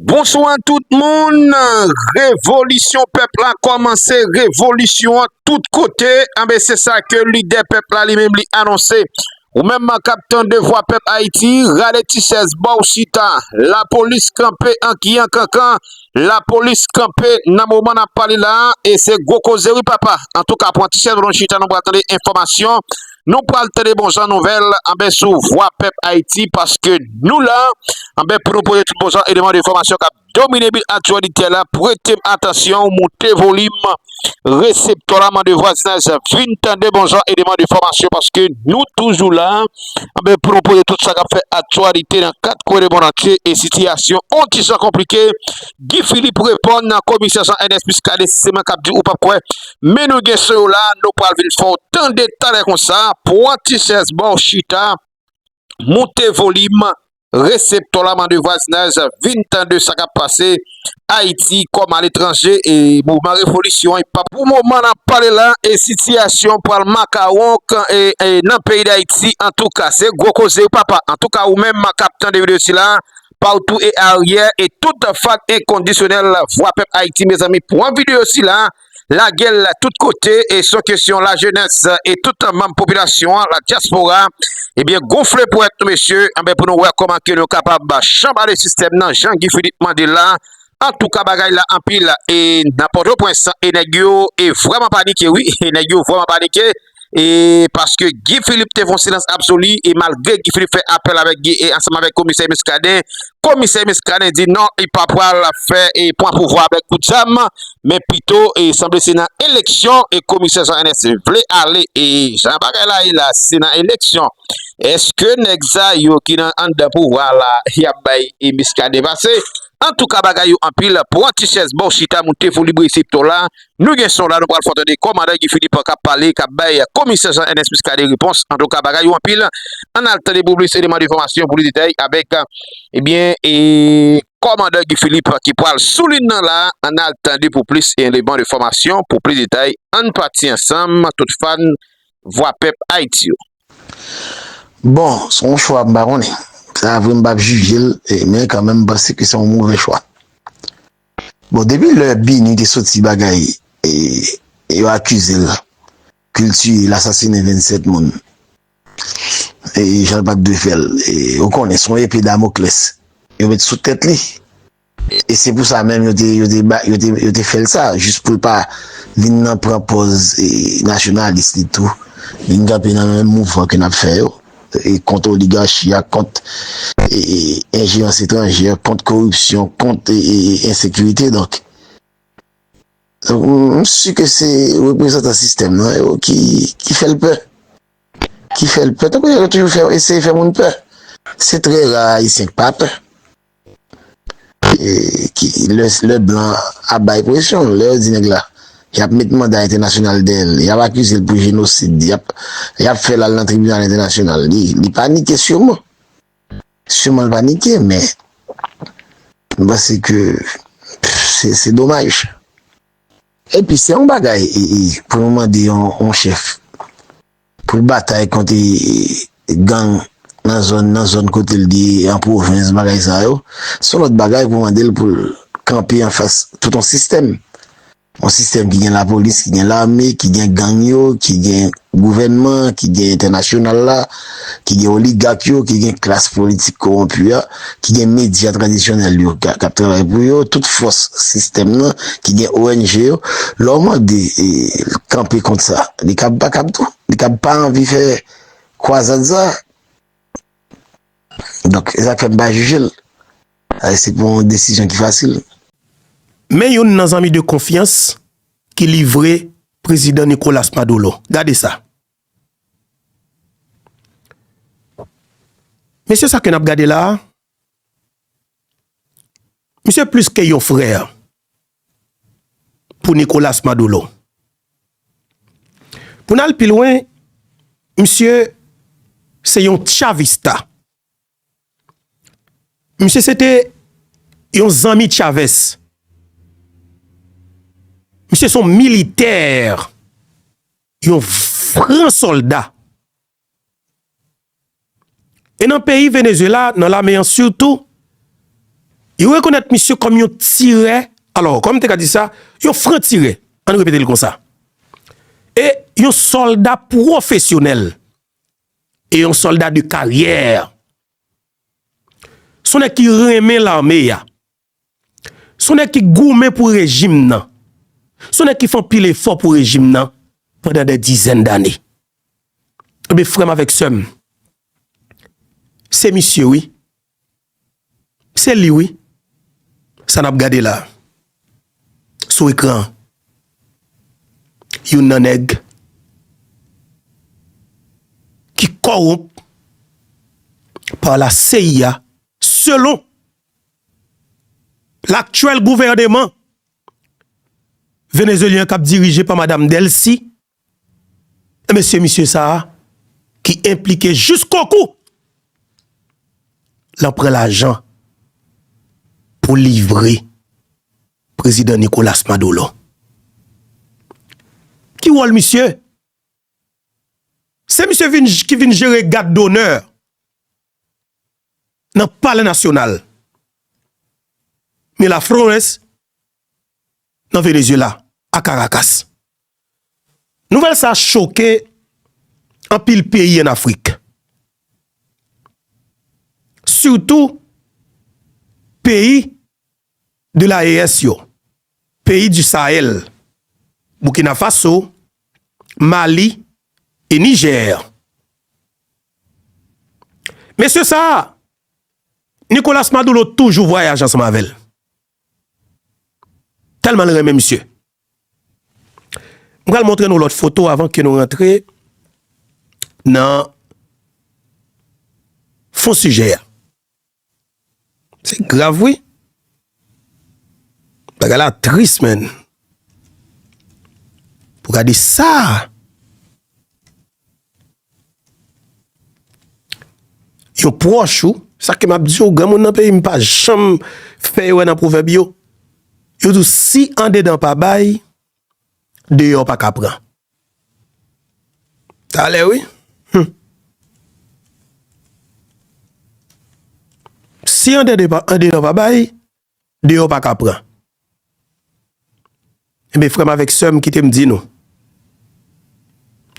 Bonswa tout moun, revolisyon pèp la kòmanse, revolisyon an tout kote, anben se sa ke lidè pèp la li menm li anonse. Ou menm man kap tande vwa pèp Ayiti, rale ti chèz ba w chita, lapolis kanpe an ki an kankan, lapolis kanpe nan moman nap pale la, e se gwo koze wi papa, antouka pran ti chèz ba nou chita nou pral tande enfòmasyon Nou pral tande bon jan nouvèl anben sou vwa pèp Ayiti paske nou la anben pou nou pote tout bon jan eleman de enfòmasyon kap domine bil aktyalitè la prete m atansyon moute volim reseptò la mande vwazinaj vin tande bon jan eleman de enfòmasyon paske nou toujou la anben pou nou pote tout sa kap fè aktyalite nan kat kwen de moun antye e sitiyasyon on ti jan konplike Guy Philippe reponn nan komisè Jean Ernest Muscadin si se mwen kap di ou pap kwè men nou gen sou yo la nou pral vin fè w tande talè konsa pwan ti chèz ba w chita moute volim reseptò la mande vwazinaj vin tande sa kap pase ayiti kòm aletranje e mouvman revolisyon an pa pou moman n ap pale la e sitiyasyon an pral makawon k nan peyi dayiti antouka se gwo koze wi papa antouka ou menm kap tande videyo sila partout et arrière et tout fan inconditionnel vwa pèp Haïti mezanmi pwan video sila lagel tout kote et son kesyon la jenès et tout manm popilasyon an la diaspora ebyen gonfle pwèt nou mesye anben pou nou wè koman ke nou kapab chanbale sistèm nan jan Guy Philippe mande la antouka bagay la anpil et nan pòtoprens e nèg yo e vwèman panike wi e nèg yo vwèman panike. e paske Guy Philippe te fon silans absoli e malgre Guy Philippe fè apèl avèk Guy e ansanm avèk komisè Muscadin, komisè Muscadin di non li pa pwal fè e pwan pouvwa avèk kout zam men pito e sanble se nan eleksyon e komisè Jean Ernest vle ale e jan bagay la ye la se nan eleksyon eske nèg sa yo ki nan anndan pouvwa la yap bay e Muscadin pase antouka bagay yo anpil pwan ti chèz baw chita moun te foli brese ptola. Nou gen son la nou pral fè w tande kòmandan Guy Philippe kap pale kap bay komisè Jean Ernest Muscadin repons antouka bagay yo anpil ann al tande pou plis eleman denfòmasyon pou plis detay avèk ebyen kòmandan Guy Philippe ki pral sou lin nan la ann al tande pou plis eleman denfòmasyon pou plis detay ann pati ansanm tout fan vwa pèp Ayiti yo. Bon se yon chwa m pa konnen sa vre m pap jije l men kanmenm m panse ke se yon move chwa. Bon depi lè Bini te soti bagay yo akizel kel tiye el asasine 27 moun e janl pat dwe fèl ou konnen son epe damokles yo met sou tèt li e se pou sa menm yo te fèl sa jis poul pa vin nan pran pòz nasyonalis li tou vin kanpe nan menm mouvman ke nap fè yo. kont oligachi a, kont enjerans etranjè, kont koripsyon, kont ensekirite. Donk, m si ke se reprezantan sistèm nan yo ki fè l pè. Ki fè l pè. Tankou yo toujou eseye fè moun pè. Se trè ra Ayisyen ki pa pè. Lè blan ap bay presyon, lè yo di nèg la, y ap met manda entènasyonal dèyè l, y ap akize l pou jenosid, y ap fè l al nan tribinal entènasyonal, li panike siyoman. Siyoman l panike men, m panse ke se domaj. Epi se yon bagay pou nou mande yon chèf Pou l batay kont gang nan zòn nan, zòn kote l ye an, pwovens, bagay sa yo, se yon lòt bagay pou mande l pou l kanpe anfas tout yon sistèm. Yon sistèm ki gen lapolis, ki gen lame, ki gen gang yo, ki gen gouvènman, ki gen entènasyonal la, ki gen oligak yo, ki gen klas politik kowonpi a. ki gen medya tradisyonèl yo k ap travay pou yo, tout fòs sistèm nan ki gen ong yo, lè w mande l kanpe kont sa, li kab pa kab tou, li kab pa anvi fè kwazad sa. Donk, e sa k fè m pa jije l. Paske se pa yon desizyon ki fasil. Men youn nan zanmi de konfyans ki livre Prezidan Nicolas Maduro. Gade sa. Mesye sa ke nap gade la, misye plis ke yon frè pou Nicolas Maduro. Pou n al pi lwen, misye se yon chavista. Misye se te yon zanmi Chavez. Misye se yon militè, yon gran solda. E nan peyi Venezuela, nan lame an sitou, yo rekonèt misye kòm yon tirè, alò, kòm te ka di sa, yon fran tirè, an nou repete l konsa. E yon solda pwofesyonèl. E yon solda de karyè. Son nèg ki renmen lame ya. Son nèg ki goumen pou rejim nan. Son nèg ki fon pil efò pou rejim nan pandan de dizèn dane. Ebe frèm avèk sèm. Se misye wi. Se li wi sa nap gade la sou ekran an youn nan nèg ki kowonp pa la CIA selon laktyèl gouvèneman venezuelyen kap dirije pa madam Delcy. Enben se misye sa a ki enplike jiskokou lan pran lajan pou livre prezidan Nicolas Madolo. Ki wòl misye? Se misye vin ki vin jere gad donè nan palè nasyonal Miraflores nan Venezuela a Caracas. Nouvèl sa choke anpil peyi an Afrik. Sitou peyi de la ES yo, peyi di Sahel, Burkina Faso, Mali e Niger. Mesye sa Nicolas Maduro toujou vwayaje ansanm avèl. Telman l renmen misye. M pral montre nou lot foto avan ke nou rantre nan fon sijè a. Se grav wi. Bagay la tris menn. Pou gade sa. Yo pwòch ou, sa ke m ap di ou, granmoun nan peyi m pa janm fè erè nan pwovèb yo, yo di w si andedan pa bay, deyò pa ka pran. Talè wi, hum! Si andedan pa bay. Deyò pa ka pran. Enben frè m avèk sè m kite m di nou,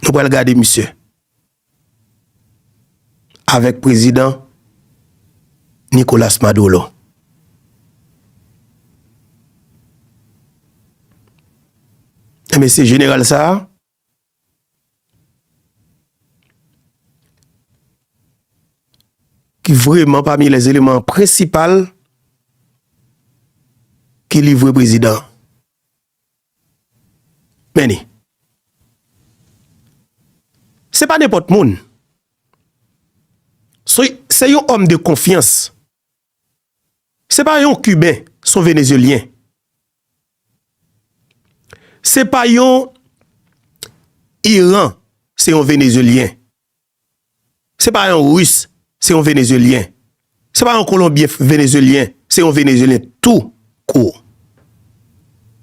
nou pral gade misye avèk prezidan Nicolas Maduro. Enben se jeneral sa a. ki vreman pami lè eleman prensipal ki livre prezidan men ni se pa nenpòt moun se yon òm de konfyans Se pa yon kiben son venezyelyen se pa yon iran se yon venezyelyen se pa yon ris se yon venezyelyen se pa yon kolonbyen venezyelyen se yon venezyelyen tou kou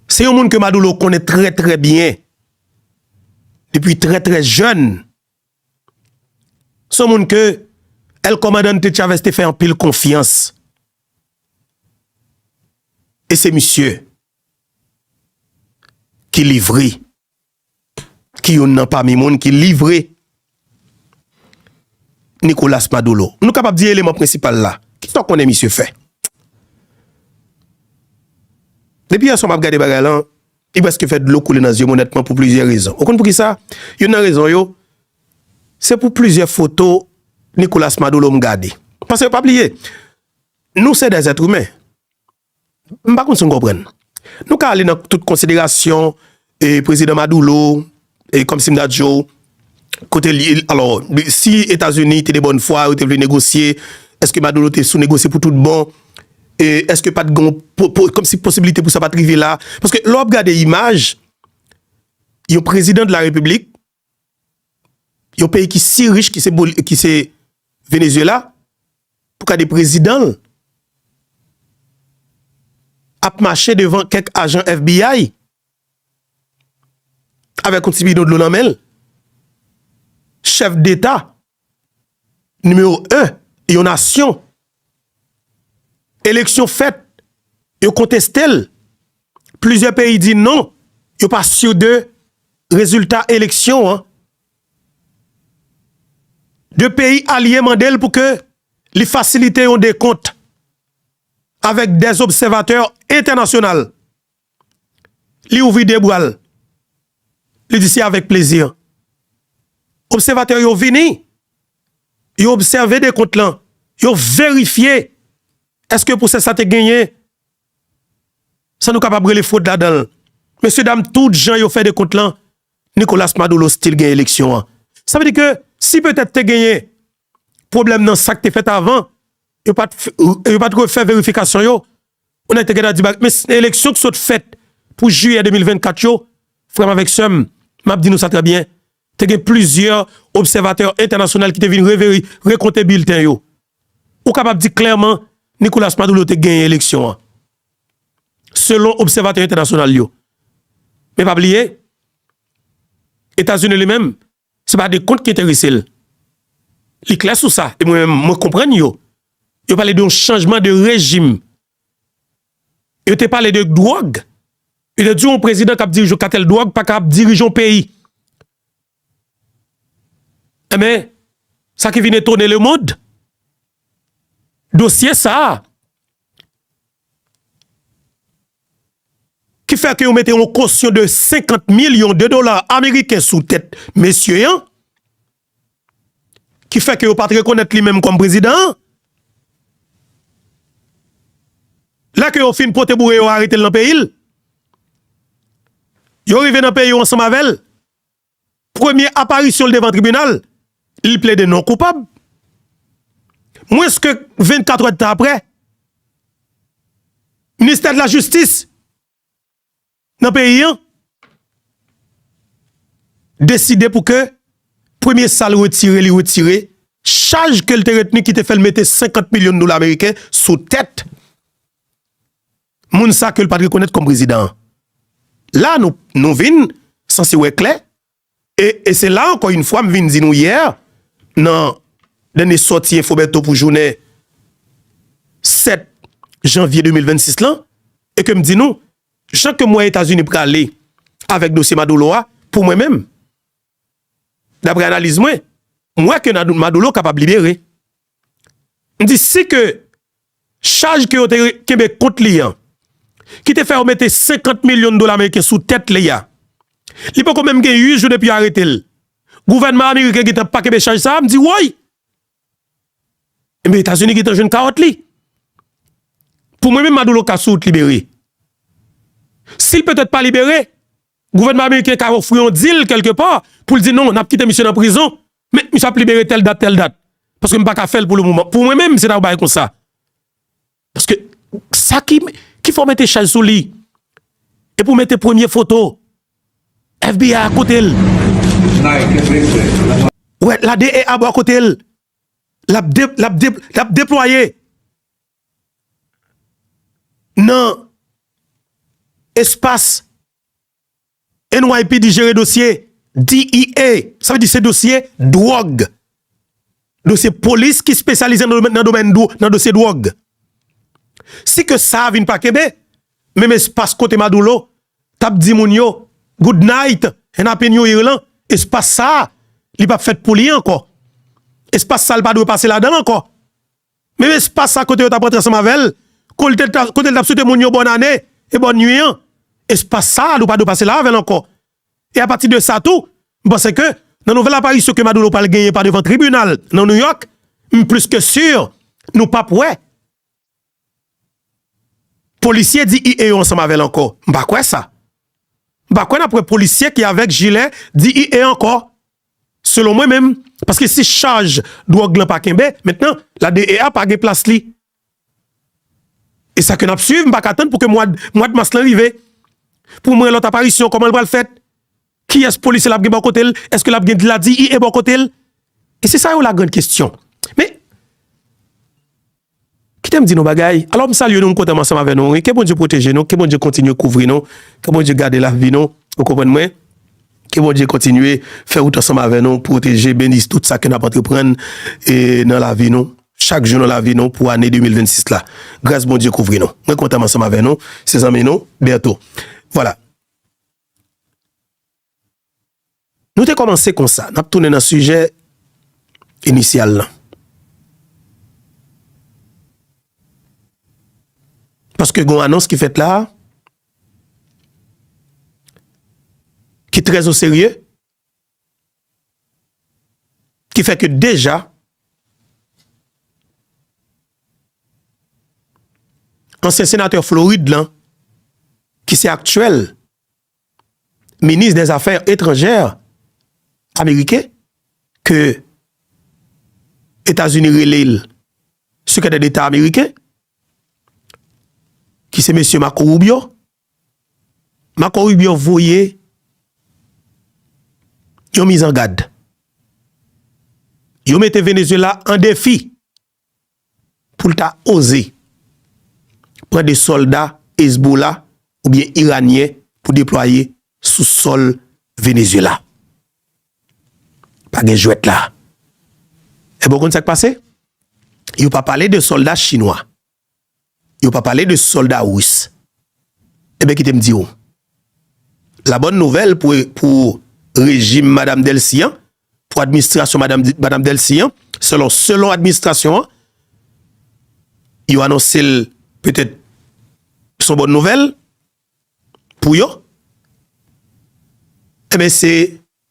se yon moun ke madoulo konnen trè trè byen depi trè trè jèn Se yon moun ke El Comandante Chavez te fè anpil konfyans. E se misye ki livre, ki youn nan pami moun ki livre Nicolas Maduro. Nou kapab di eleman prensipal la. Kisa w konnen misye fè? Depi yè swa m ap gade bagay lan. Li prèske fè dlo koule nan zye m onètman pou plizyè rezon. Ou konn pou kisa? Youn nan rezon yo, se pou plizyè foto Nicolas Maduro m gade. Paske pa bliye, nou se dè zètwimen. M pa konn si nou konprann. Nou ka ale nan tout konsiderasyon Prezidan Maduro, E kòmsi m ta di yo, kote li, alò, si Etazini te de bòn fwa, yo te vle negosye, èske Maduro te sou negosye pou tout bon? E èske pa t gen yon, kòmsi posibilite pou sa pa t rive la? Paske lè w ap gade imaj, yon prezidan de la repiblik, yon peyi ki si rich ki se Venezyela, pou kade prezidan l, ap mache devan kèk ajan FBI, avèk yon ti bidon dlo nan men l, chèf deta nimewo 1 yon nasyon, eleksyon fèt yo konteste l, plizyè peyi di non yo pa si de rezilta eleksyon an, 2 peyi alye mande l pou ke li fasilite yon dekont avèk 2 obsèvatè entènasyonal. Li ouvri de bra l, li di, Se avèk plezi. Obsèvatè yo vini, yo obsève dekont lan, yo verifye èske pwosè sa te genyen sa nou kapab rele fwod ladan l. Mesyedam, tout jan yo fè dekont lan, Nicolas Maduro stil gen eleksyon an. Sa vle di ke si petèt te genyen Pwoblèm nan sak te fèt avan, yo pat yo pat refè verifikasyon yo, yon nèg te gentan di bagay, men se eleksyon ki sot fèt pou jiyè 2024 yo, frè m avèk sè m, map di nou sa trè byen, te gen plizyè obsèvatè entènasyonal ki te vin reveri rekonte bilten yo, ou kapab di klèman Nicolas Maduro te genyen eleksyon an, selon obsèvatè entènasyonal yo, men pa bliye Etazini li menm. Se pa de kont ki enterese l. Li klè sou sa, e mwen menm mwen konprann yo. Yo pale de yon chanjman de rejim. Yo te pale de dwòg. Yo te di yon prezidan k ap dirije yon katèl dwòg pa ka ap dirije yon peyi. Enben, sa ki vin etone lemond, dosye sa a, Ki fè ke yo mete yon kosyon de 50 milyon de dola ameriken sou tèt mesye an, ki fè ke yo pat rekonèt li menm kòm prezidan an. Lè ke yo fin pote boure yo arete l nan peyi l, yo rive nan peyi yo ansanm avè l. Premye aparisyon l devan tribinal, li plede non koupab. Mwens ke 24 èdtan apre, Ministè de la Jistis nan peyi an deside pou ke premye sa l retire, li retire chaj ke l te retni ki te fè l mete 50 milyon dola meriken sou tèt Moun sa ke l pat rekonèt kòm prezidan an. La nou nou vin sanse wè klè e e se la ankò yn fwa m vin di nou yè nan dènye sòti Enfo Bertho pou jounen 7 janvye 2026 lan e ke m di nou jan ke m wè Etazini prale avèk dosye Madoulo a pou mwen menm daprè analiz mwen m wè ke Madoulo kapab libere. M di si ke chaj ke yo te kenbe kont li an, ki te fè yo mete 50 milyon dola meriken sou tèt li a, li poko menm gen 8 jou depi yo arete l, gouvènman ameriken gentan pa kenbe chaj sa a, m di woy! Enben Etazini gentan jwenn kawòt li. Pou mwen menm Madoulo ka sou wout libere. Si l petèt pa libere, gouvènman ameriken ka ofri yon dil kèlke pa pou l di non, n ap kite misye nan prizon. Men, misye ap libere tèl dat, tèl dat. Paske m pa ka fè l pou le moman. Pou mwen menm, se ta yon bagay konsa. Paske, sa ki, ki fè w mete chaj sou li? Epi w mete premye foto FBI a kote l. Ou wè, la DEA bò kote l. L ap de, l ap de, l ap deplwaye nan espas. NYPD jere dosye DEA, sa vle di se dosye dwòg, dosye polis ki spesyalize nan domèn nan dosye dwòg. Si ke sa vin pa kenbe, menm espas kote Madoulo t ap di moun yo good night and happy new year lan, espas sa li p ap fèt pou li ankò. Espas sa li pa dwe pase ladan l ankò. Menm espas sa kote yo tap rantre ansanm avèl, kote li tap swete moun yo bòn ane e bòn nwi an, espas sa nou pa dwe pase la avèl ankò. E a pati de sa tou, m panse ke nan nouvèl aparisyon ke Maduro pral genyen pa devan tribinal nan New York, m plis ke sur nou pap wè polisye DEA yo ansanm avèl ankò. M pa kwè sa. M pa kwè nap wè polisye ki avèk jilè DEA ankò Selon mwen menm, paske si chaj dwòg lan pa kenbe, mentnan, la DEA pa gen plas li. E sa ke n ap swiv, m pa ka tann pou ke mwad, mwad mas lan rive, pou m wè lòt aparisyon, kòman l pral fèt, kiyès polisye l ap gen bò kote l, èske l ap gen la DEA bò kote l? E se sa yo la grand kestyon. Men, Kite m di nou bagay, alò m salye nou, m kontan m ansanm avè nou wi, ke Bondye pwoteje nou, ke Bondye kontinye kouvri nou, ke Bondye gade lavi nou, ou konprann mwen, ke Bondye kontinye fè wout ansanm avè nou, pwoteje, beni tout sa ke n ap antreprann nan lavi nou, chak jou nan lavi nou pou ane 2026 la, gras Bondye kouvri nou, mwen kontan m ansanm avè nou, se zanmi nou Bertho. Vwala. Nou te kòmanse konsa, n ap tounen nan sijè inisyal lan. Paske gen yon anons ki fèt la a, ki trè o serye, ki fè ke deja, ansyen senatè Florid lan, ki se aktyèl, minis dè zafè etranjè ameriken ke Etazini rele l sekretè deta ameriken ki se mesye Marco Rubio. Marco Rubio voye yon mizangad. Yo mete Venezuela an defi. pou l ta oze pran 2 sòlda Ezbola oubyen Iranyen pou deplwaye sou sòl Venezyela. Pa gen jwèt la. Enben w konn sa k pase? Yo pa pale de sòlda Chinwa. yo pa pale de solda rus eben kitem diw la bòn nouvèl pou rejim madam delcy an pou administrasyon madam delcy an selon selon administrasyon an yo anonsel petèt son bòn nouvèl pou yo eben se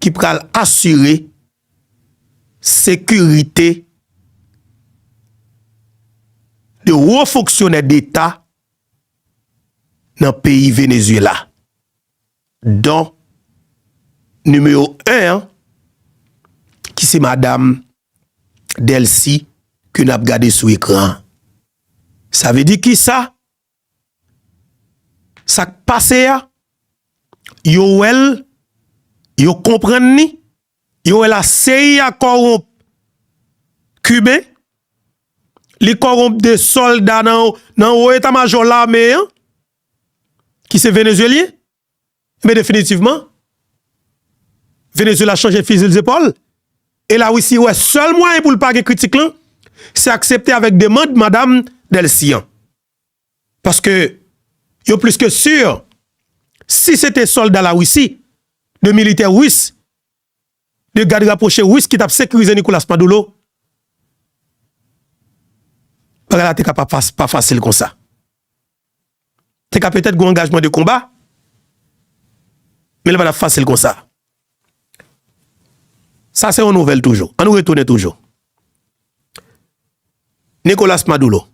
ki pral asire sekirite de wo fonksyonè deta nan peyi Venezuela, don nimewo 1 an ki se madam Delcy ke nap gade sou ekran an. Sa vle di kisa? Sak pase a yo wèl yo konprann ni yo wè la seyi a kòronp kiben li kòronp de sòlda nan wo eta majò lame an ki se venezyelyen. Enben definitivman, Venezuela chanje fizil zepòl, e la Russie wè sèl mwayen pou l pa gen kritik lan, se aksepte avèk demand madam Delcy an. Paske yo plis ke sur, si se te sòlda la Russie, de militè Russe, de gad rapwoche Ris ki t ap sekirize Nicolas Maduro, bagay la te ka pa fasil konsa. Te ka petèt gen yon angajman de konba, men li pa t ap fasil konsa. Sa se yon nouvèl toujou. An nou retounen toujou. Nicolas Maduro,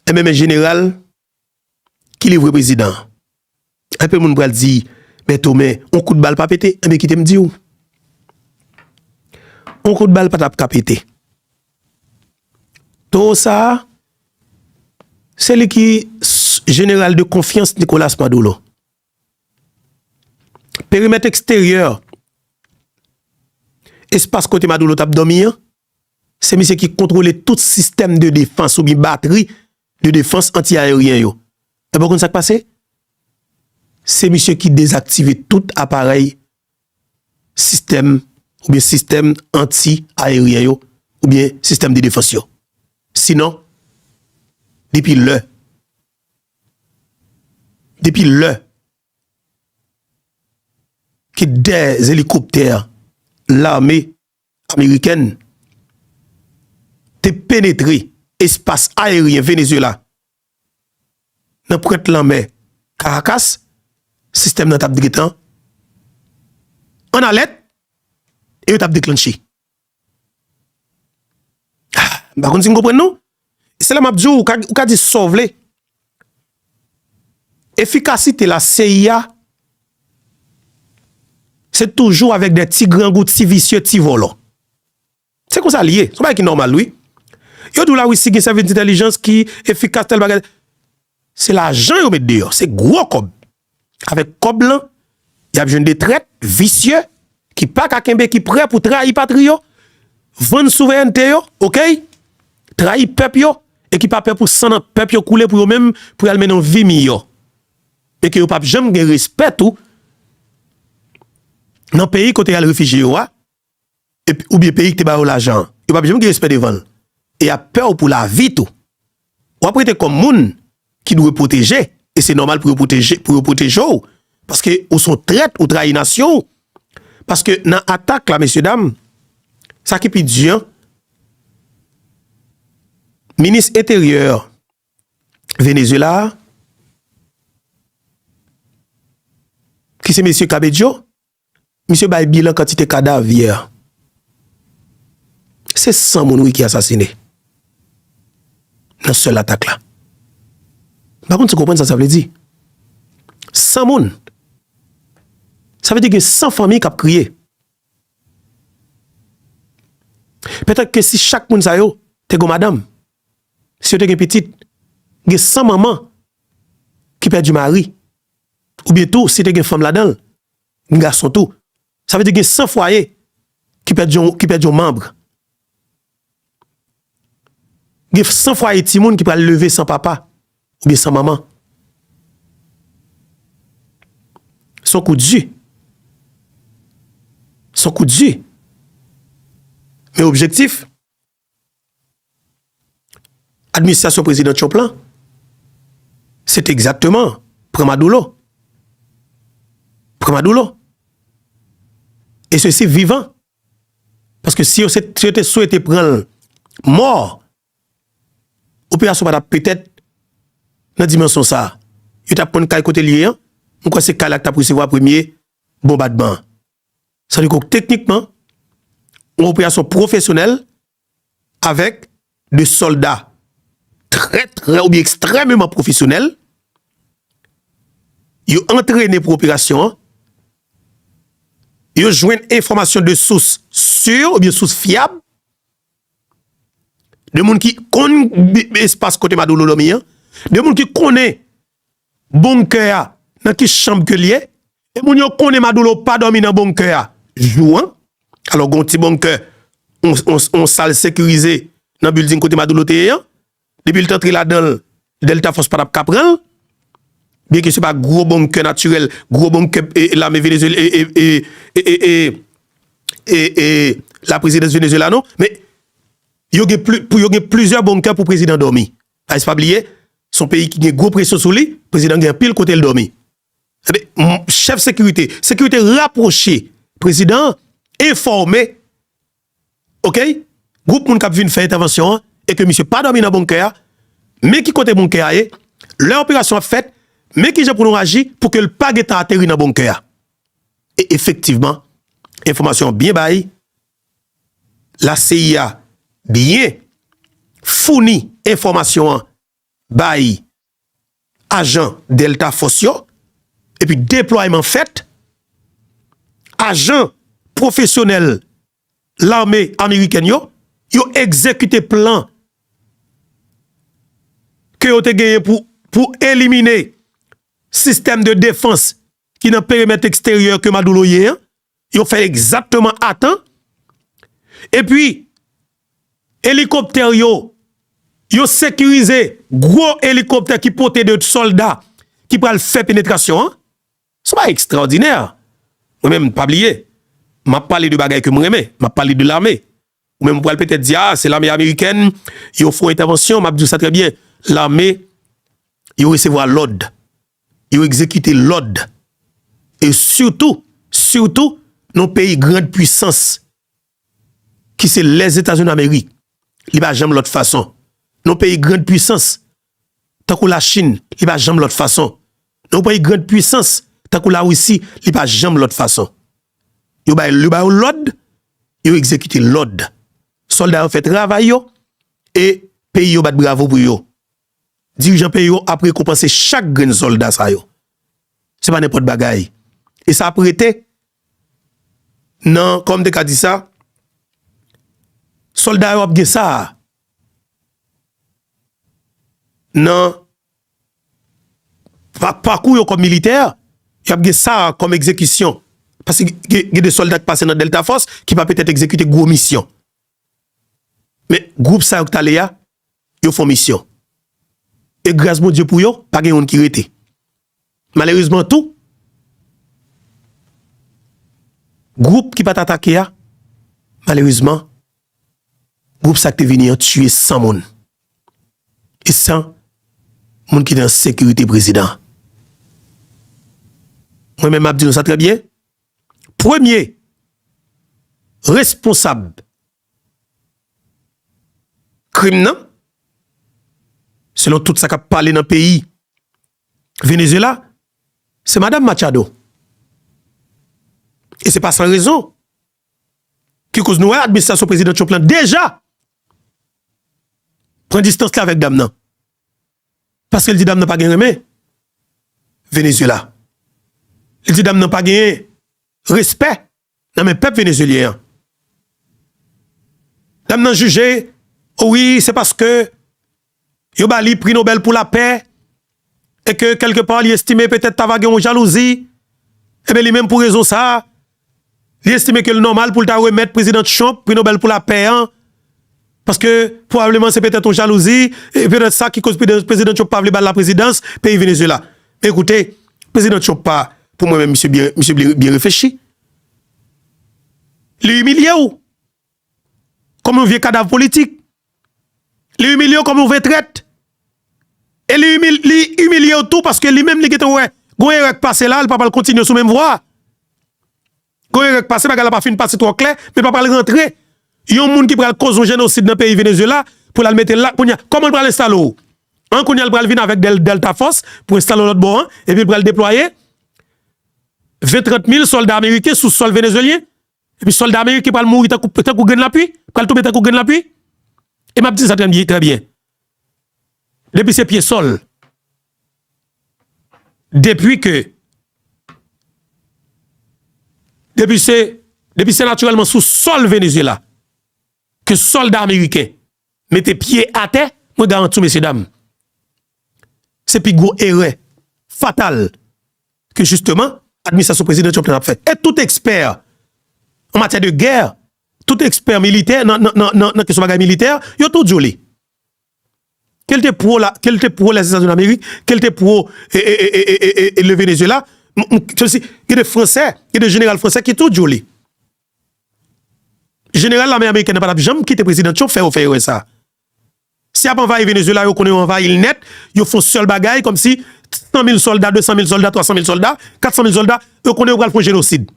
enben men jeneral, Ki livre prezidan an? Anpil moun pral di, men Tome, on kout bal pa pete. Enben kite m di w, on kout bal pa t ap ka pete. Towo sa a, se li ki jeneral de konfyans Nicolas Maduro. Perimèt eksteryè, espas kote Maduro t ap dòmi an, se misye ki kontwole tout sistèm de defans oubyen batri de defans anti aeryen yo. Ebyen w konn sak pase? Se misye ki dezaktive tout aparèy sistèm oubyen sistèm anti aeryen yo oubyen sistèm de defans yo. Sinon depi lè depi lè ke 2 elikoptè lame. amerikèn te penetre espas aeryen Venezuela nan pwent lanmè Caracas, sistèm nan t ap gentan an alèt e yo t ap deklanche. M pa konn si n konprann non. Se la map diw, ou ka di sa w vle, efikasite la CIA se toujou avèk de ti grangou, ti visye, ti vòlò. Se konsa li ye, se yon bagay ki nòmal wi. Yo diw la Russie gen sèvis entèlijans ki efikas tèl bagay. Se lajan yo met deyò, se gwo kòb. Avèk kòb lan, y ap jwenn de trèt, visye, ki pa ka kenbe, ki prè pou trayi patri yo, vann souvèènte yo, okay, trayi pèp yo, e ki pa pè pou san nan pèp yo koule pou yo menm, pou y al mennen yon vi miyò. E ke yo p ap janm gen respè tou nan peyi kote y al refijye yo a. oubyen peyi ki te ba yo lajan an, yo pap janm gen respè devan l e y ap pè w pou lavi tou. W ap rete kòm moun ki dwe pwoteje e se nòmal pou yo pwoteje pou yo pwoteje w paske ou s on trèt ou trayi nasyon w paske nan atak la mesye dam sa ki pi di an minis enteryè Venezyela a ki se mesye Cabedjo Misye bay bilan kantite kadav yè. Se 100 moun wi ki asasine nan sèl atak la. M pa konn si w konprann sa sa vle di. 100 moun! Sa vle di gen 100 fanmi k ap kriye. Petèt ke si chak moun sa yo te gon madanm, si yo te gen pitit, gen 100 manman ki pèdi mari. oubyen tou si te gen fanm ladan l, ni gason tou, sa vle di gen 100 fwaye ki pèdi yon manb. Gen 100 fwaye timoun ki pral leve san papa oubyen san manman. Se yon kou di. Se yon kou di. Men objektif. Administrasyon Prezidan Trump la, se te egzakteman pran Madoulo. Pran Madoulo. E se si vivan. Paske si yo te swete pran l mò, operasyon pa ta petèt nan dimansyon sa. Yo tap konn kay kote l ye an, mwen kwè se kay la ki tap resevwa premye bonbadman an. Sa vle di ke teknikman, yon operasyon pwofesyonèl avèk de sòlda trè trè oubyen ekstrèmeman pwofesyonèl, yo antrene pou operasyon an, yo jwenn enfòmasyon de sous si oubyen sous fyab, de moun ki konn espas kote Maduro dòmi an, de moun ki konnen Bonkè a nan ki chanb ke liye? E moun yo konnen Madoulo pa domi nan bonkè a jou an? Alo gon ti bonkè, on sal sekirize nan bilding kote Madoulo te ye an? Depi li t antre ladanl Delta Fòs pa tap ka pranl? Byen ke se pa gwo bonkè natirèl, gwo bonkè lame e laprezidans Venezuela non, men yo gen plizyè bonkè pou prezidan domi. Guys pa bliye son peyi ki gen gwo presyon sou li, prezidan gen anpil kotel dòmi. Ebyen chèf sekirite, sekirite rapwoche prezidan an enfòme ok gwoup moun kap vin fè entèvansyon an e ke misye pa dòmi nan bonkè a, men ki kote bonkè a ye, lè operasyon ap fèt, men kijan pou nou aji pou ke l pa gentan ateri nan bonkè a. E efektivman enfòmasyon an byen bay la CIA byen founi enfòmasyon an bay ajan Delta Force yo epi deplwayman fèt, ajan pwofesyonèl lame amerikèn yo, yo egzekite plan ke yo te genyen pou elimine sistèm de defans ki nan peremèt eksteryè ke Maduro ye an, Yo fè egzakteman atan. E pi, elikoptè yo, yo sekirize gwo elikoptè ki pote de sòlda ki pral fè penetrasyon an. Se pa ekstraòdinè. Mwen menm, pa bliye, m ap pale de bagay ke m renmen. M ap pale de lame. Ou menm ou pral petèt di, a, se lame amerikèn, yo fon entèvansyon, m ap di w sa trè byen, lame, yo resevwa lòd, yo egzekite lòd, e sitou, sitou, nan yon peyi grand pwisans, ki se Lèzetazunidamerik, li pa janm lòt fason, nan yon peyi grand pwisans, tankou la chin li pa janm lòt fason nan yon peyi grand pwisans tankou la risi li pa janm lòt fason yo bay yo ba yo lòd yo egzekite lòd sòlda yo fè travay yo e peyi yo bat bravo pou yo dirijan peyi yo ap rekonpanse chak grenn sòlda sa yo se pa nenpòt bagay e sa ap rete nan kòman m te ka di sa sòlda yo ap gen sa. Nan pakou yo kòm militè, y ap gen sa a kòm egzekisyon. Paske gen de sòlda ki pase nan Delta Force ki pa petèt egzekite gwo misyon. Men gwoup sa yo ki t ale a, yo fon misyon. E gras Bondye pou yo, pa gen youn ki rete. Malerezman tou, gwoup ki pa t atake a, malerezman, gwoup sa ki te vini an tiye 100 moun. E san moun ki te nan sekirite prezidan an. Mwen menm m ap di nou sa trè byen, premye responsab. Krim nan, selon tout sa k ap pale nan peyi Venezyela, se madam Machado. E se pa san rezon ki koz nou wè administrasyon Prezidan Trump lan deja pran distans li avèk dam nan. Paske l di dam nan pa gen renmen Venezyela. Li di dam nan pa genyen respè nan men pèp Venezuelyen an. Dam nan jije o wi se paske yo ba li pri Nobel pou la pè e ke kelke pa li estime petèt ta va gen yon jalouzi e ben li menm pou rezon sa li estime ke li nòmal pou li ta remèt Prezidan Trump pri Nobel pou la pè an Paske pwobableman se petèt yon jalouzi, e petèt sa ki koz Prezidan Trump pa vle ba l laprezidans peyi Venezuela. Men koute, Prezidan Trump pa. Pou mwen menm misye byen, misye byen reflechi. Li imilye w kòm yon vye kadav politik. Li imilye w kòm yon ve trèt. E li imilye w tou paske li menm li gentan wè gon erè k pase la, li pa pral kontinye sou menm vwa a. Gon erè k pase, bagay la pa fin pase twò klè, men pa pral rantre yon moun ki pral koz yon jenosid nan peyi Venezuela pou l al mete l la, kounya kòman l pral enstale w an, kounya l pral vin avèk dèl Delta Force pou enstale w lòt bò an, epi l pral deplwaye 20 30 mil sòlda ameriken sou sòl Venezuelyen, epi sòlda ameriken pral mouri tankou grenn lapui, pral tonbe tankou grenn lapui, e m ap di sa trè byen. Depi se pye sol. Depi ke. Depi se. Depi se naturelman sou sol Venezuela. Ke solda ameriken. Mete pye ate. Mwen garanti w mesye dam. Se pi gwo ere. Fatal. Ke justeman. Administrasyon prezidan Trump nan ap fe. E tout eksper. An matyè de ger. Tout ekspè militè nan kesyon bagay militè, yo tout di w li. Ke l te pwo la, ke l te pwo Lèzetazini Damerik, ke l te pwo Le Venezyela, gen de Fransè, gen de jeneral Fransè ki tout di w li. Jeneral lame Amerikèn nan pa t ap janm kite prezidan Trump fè yo fè erè sa a. Si yap anvayi Venezuela yo konnen yo anvayil nèt, yo fon sèl bagay kòmsi 100 mil sòlda, 200 mil sòlda, 300 mil sòlda, 400 mil sòlda, yo konnen yo pral fon jenosid.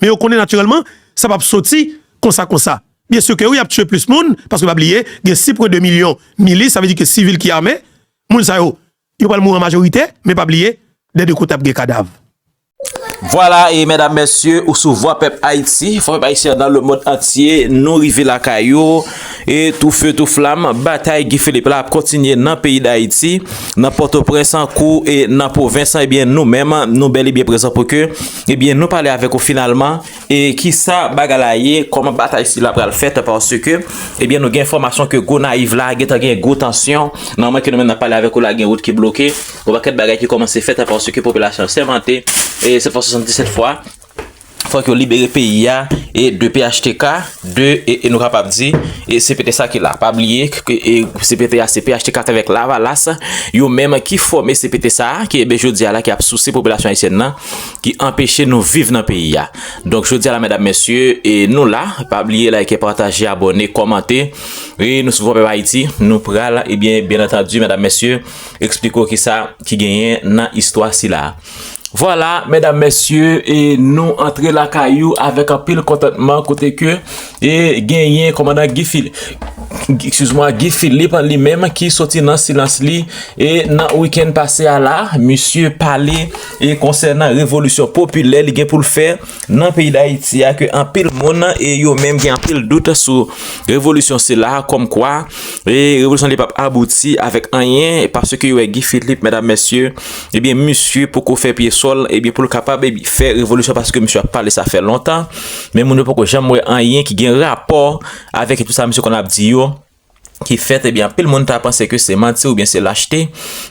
Men yo konnen natirèlman sa pap soti konsa konsa. Byen si ke wi yap tiye plis moun, paske pa bliye gen 6.2 milyon milis sa vle di ke sivil ki ame, moun sa yo yo pral mouri an majorite, men pa bliye dè 2 kote ap gen kadav. Vwala e medam mesye ou sou vwa pèp Ayiti, fò pèp Ayisyen nan le mond antye nou rive lakay ou e tou feu tou flam batay Guy Philippe la ap kontinye nan peyi Dayiti, nan Pòtoprens kou e nan pwovens ebyen nou menm nou bel e byen prezan pou ke ebyen nou pale avèk ou finalman. E kisa bagay la ye, koman batay sila pral fèt paske ebyen eh nou gen enfòmasyon ke Gonayiv la gentan gen gwo tansyon, nan moman ke nou menm nap pale avèk ou la gen wout ki bloke, yon pakèt bagay ki kòmanse fèt paske popilasyon an sèmante e 7 fwa 77 fwa fòk yo libere peyi a e de phtk de e nou kapab di e CPT sa ki la. Pa bliye ke e CPT a se phtk atravèk lavalas yo menm ki fòme CPT sa ki ebyen jodi a la ki ap souse popilasyon ayisyèn nan ki anpeche nou viv nan peyi a donk jodi a la medam mesye e nou la pa bliye like pataje abòne kòmante e nou sou vòpè bayiti nou pral e byen byen antandi medam mesye eksplike ou kisa ki genyen nan istwa si la vwala medam mesye e nou antre lakay ou avèk anpil kontantman kote ke E genyen kòmandan Guy Philippe, excuse moi, Guy Philippe an li menm ki soti nan silans li e nan weekend pase a la, misye pale e konsènan revolisyon popilè li gen pou l fè nan peyi Dayiti a ke anpil moun e yo menm gen anpil dout sou revolisyon sila kòm kwa e revolisyon li pap abouti avèk anyen paske yo wè Guy Philippe medam mesye e byen misye poko fè pye sòl e byen pou l kapab fè revolisyon paske misye ap pale sa fè lontan. Men moun yo poko janm wè anyen ki gen rapò avèk tout sa misye konn ap di yo ki fèt ebyen anpil moun ta panse ke se manti oubyen se lachte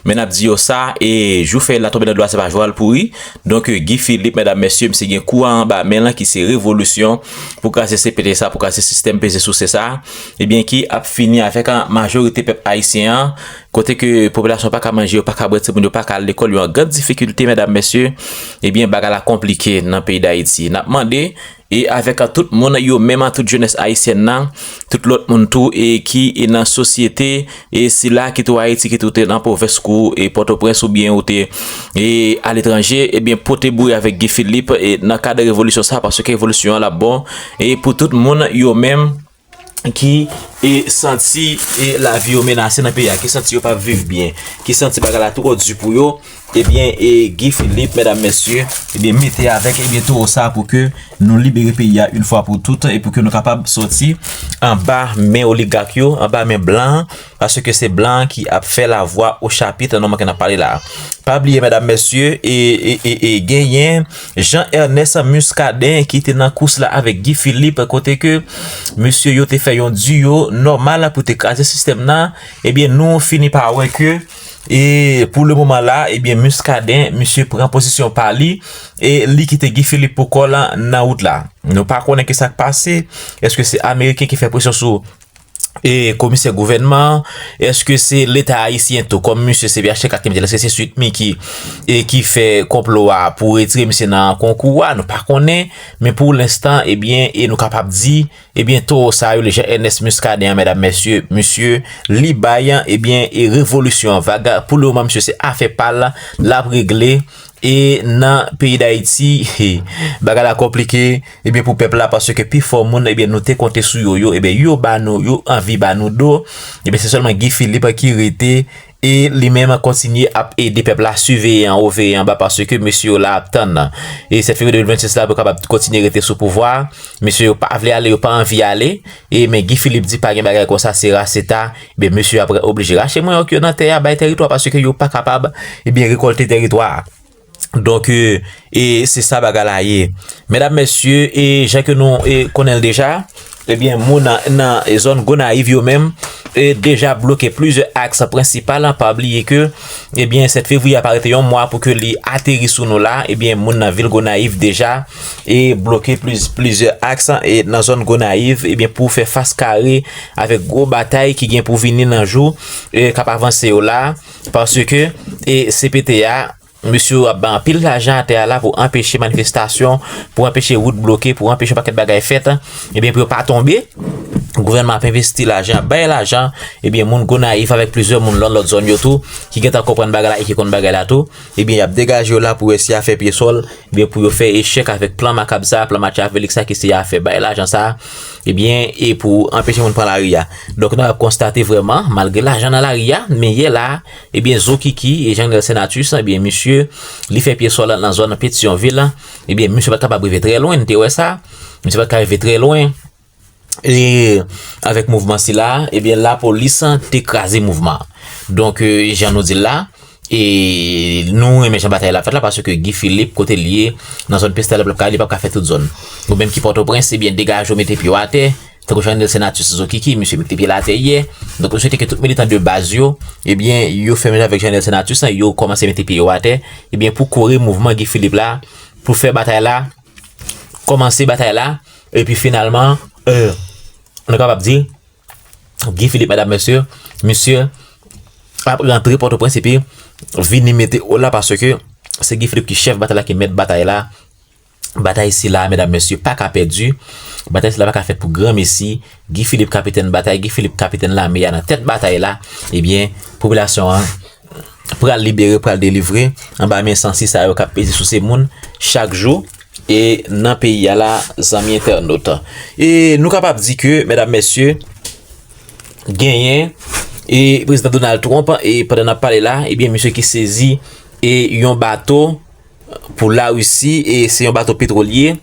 men nap di yo sa e jou fèy la tonbe nan dlo a se pa jou al pouri donk Guy Philippe medam mesye misye gen kou a anba men lan ki se revolisyon pou kraze CPT sa pou kraze sistèm peze souse sa ebyen ki ap fini avèk majorite pèp ayisyen an. kote ke popilasyon pa ka manje, yo pa ka bwè, timoun yo pa ka al lekòl, yo an grand difikilte medam mesye, ebyen bagay la konplike nan peyi dayiti, nap mande e avèk a tout moun yo menm a tout jenès ayisyèn nan, tout lòt moun tou e ki e nan sosyete e sila ki tou ayiti ki tou te nan pwovens kou e pòtoprens oubyen ou te e aletranje ebyen pote boure avèk gifilip e nan kad revolisyon sa paske revolisyon an lap bon e pou tout moun yo menm. ki e santi e lavi yo menase nan peyi a, ki santi yo pa ap viv byen, ki santi bagay la twò di pou yo, ebyen e Guy Philippe, medam mesye, ebyen mete avèk ebyen towo sa pou ke nou libere peyi a yon fwa pou tout, e pou ke nou kapab soti anba men oligak yo, anba men blan. Paske se blan an ki ap fè la vwa o chapit nan moman ke n ap pale la a. Pa bliye medam mesye, e genyen Jean Ernest Muscadin ki te nan kous la avèk Guy Philippe kote ke mesye yo te fè yon duo nòmal pou te kraze sistèm nan, ebyen nou fini pa wè ke e pou le moman la a ebyen Muscadin misye pran pozisyon pa li e li kite Guy Philippe pou kò l nan wout la. Nou pa konnen ki sa k pase, eske se ameriken ki fè presyon sou. e komisè gouvènman an, èske se leta ayisyen tou kòm misye se phtk ki te mete l, èske se Sweet Micky e ki fè konplo a pou retire misye nan konkou a, nou pa konnen, men pou lenstan ebyen e nou kapab di ebyen towo sa rele Jean Ernest Muscadin an medam mesye misye li bay ebyen e revolisyon an vaga pou le moman misye se afè pa l l ap regle E nan peyi dayiti he bagay la konplike ebyen pou pèp la paske pi fò moun ebyen nou te konte sou yo yo ebyen yo ba nou yo anvi ba nou do ebyen se sèlman Guy Philippe ki rete e li menm kontinye ap ede pèp la siveye anwo veye anba paske mesye yo la ap tann e 7 fevriye 2026 la pou yo kapab kontinye rete sou pouvwa a mesye yo pa vle ale yo pa anvi ale e men Guy Philippe di pa gen bagay konsa se ra se ta Ebyen mesye yo ap oblije rache manyòk yo nan tè a bay tèritwa paske yo pa kapab ebyen rekòlte tèritwa a. Donk e se sa bagay la ye. Medam mesye e jan ke nou e konnen l deja ebyen moun nan zòn Gonayiv yo menm e deja bloke plizyè aks prensipal an pa bliye ke ebyen 7 fevriye a pa rete yon mwa pou ke li ateri sou nou la ebyen moun nan vil Gonayiv deja. e bloke plizyè aks nan zòn Gonayiv ebyen pou fè fas kare avèk gwo batay ki gen pou vini nan jou k ap avanse yo la paske e CPT a mesye yo ap bay anpil lajan atè a la pou anpeche manifestasyon pou anpeche wout bloke pou anpeche yon pakèt bagay fèt ebyen pou yo pa tonbe gouvènman ap envesti lajan ap bay lajan ebyen moun Gonayiv avèk plizyè moun nan lòt zòn yo tou ki gen tan konprann bagay la e ki konn bagay la tou. Ebyen yap degaje yo la pou wè si ya fè pye sòl, ebyen pou yo fè echèk avèk plan makab sa, plan machiavelik sa ki se ya fè bay lajan sa, ebyen e pou anpeche moun pran lari ya. Donk nou ap konstate vrèman malgre lajan nan lari ya, men yè la, ebyen zokiki e Jean Nel Senatus, ebyen misye li fè pye sòl nan zòn Petion ville, ebyen misye pat kapab rive trè lwen, nou te wè sa, misye pat ka rive trè lwen. Ee, avèk mouvman sila, ebyen lapolis te kraze mouvman an. Donk, jan nou di l la, e nou renmen jan batay la ap fèt la paske Guy Philippe kote l ye, nan zòn Pestèl ap l ap ka, li p ap ka fè tout zòn. Ou menm ki Pòtoprens, ebyen degaje w mete pye w atè, tankou jan Nelson Athus Zokiki, misye mete pye l atè yè. Donk, nou swete ke tout militan de baz yo, ebyen yo fè menm jan avèk jan Nelson Athus la, yo kòmanse mete pye yo atè, ebyen pou kore mouvman Guy Philippe la, pou fè batay la. kòmanse batay la, epi finalman, nou kapab di, Guy Philippe, mèdam mèsyè, misye ap rantre Pòtoprens epi vini mete o la paske se Guy Philippe ki chèf batay la, ki mèt batay la, batay sila, mèdam mèsyè, pa ka pèdi, batay sila pa ka fèt pou gran mesi, Guy Philippe kapitèn batay, Guy Philippe kapitèn lame ya nan tèt batay la, ebyen, popilasyon an. pral libere, pral delivre anba men sansi sa yo kap peze souse moun chak jou e nan peyi a la zanmi entènot. E nou kapab di ke mèdam mèsye genyen e prezidan Donald Trump e pandan nap pale la ebyen misye ki sezi e yon bato. Pou la Risi e se yon bato petwolye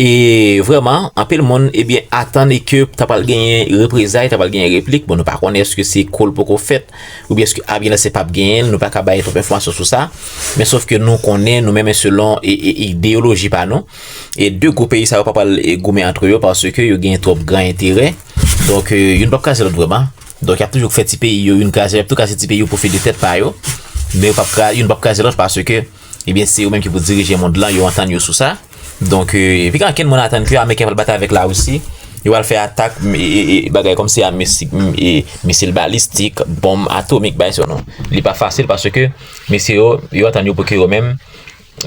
e vreman anpil moun e byen atan e ke ta pral genyen reprezay, ta pral genyen replik, bon nou pa konnen eske se kol poko fèt ou byen eske avyen nan se pap genyen, nou pa ka bay trop enfwansyon sou sa, men sof ke nou konnen nou menmen selon e ideyoloji pa nou e de gwo peyi sa yo pa pral goumen antre yo paske yo genyen trop gran enterè, donk youn pap kraze lot vreman. Donk y ap toujou fè ti peyi yo youn kraze, y ap tou kraze ti peyi yo pou fè de tèt pa yo. Men yo p ap kraze, youn p ap kraze lòt paske ebyen se yo menm ki pou dirije mond lan, yo antann yo sou sa. Donk epi gen ankenn moun atann ke ameriken pral batay avèk larisi, yo pral fè atak e bagay kòm se a misik e misil balistik, bonm atomik bay sou nou. Li pa fasil paske mesye yo, yo antann yo pou ke yo menm.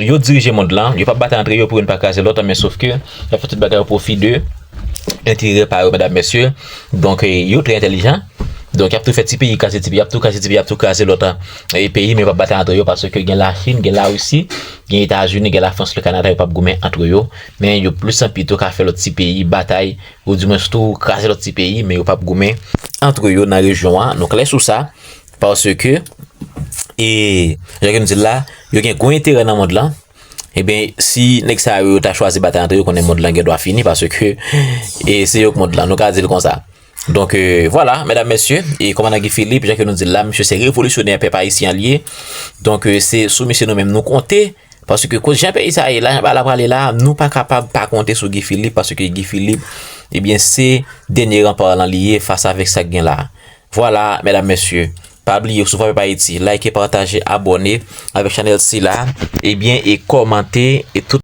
Yo dirije mond lan, yo pa batay antre yo pou youn pa kraze lòt an men sof ke yap fè tout bagay o pwofi de enterè pa yo medam mesye donk yo trè entelijan donk yap tou fè ti peyi kraze ti peyi yap tou kraze ti peyi yap tou kraze lòt an e peyi men yo pa batay antre yo paske gen la chin gen la risi gen etazini gen la frans le kanada yo pap goumen antre yo men yo plis an pito ka fè lòt ti peyi batay ou di mwens tou kraze lòt ti peyi men yo pap goumen antre yo nan rejyon an nou klè sou sa Paske, e, jan ke nou di l la, yo gen gwo enterè nan mond lan, e ben, si nèg sa yo ta chwazi batay antre yo, konnen mond lan gen dwa fini, paske, e, se yo k mond lan, nou ka di l konsa. Donk, e, vwala, mèdam mèsye, e, kòmandan Guy Philippe, jan ke nou di l la, misye se revolisyonè pèp ayisyen an l ye, donk, e, se sou misye nou menm nou konte, paske, koz jan peyi sa a ye la, jan bagay la prale la, nou pa kapab pa konte sou Guy Philippe, paske Guy Philippe, e ben, se dènye ranpa lan li ye fas avèk sa k gen la. Vwala medam mesye pa bliye sou fave payiti like pataje abòne avèk chanèl sila ebyen e kòmante e tout.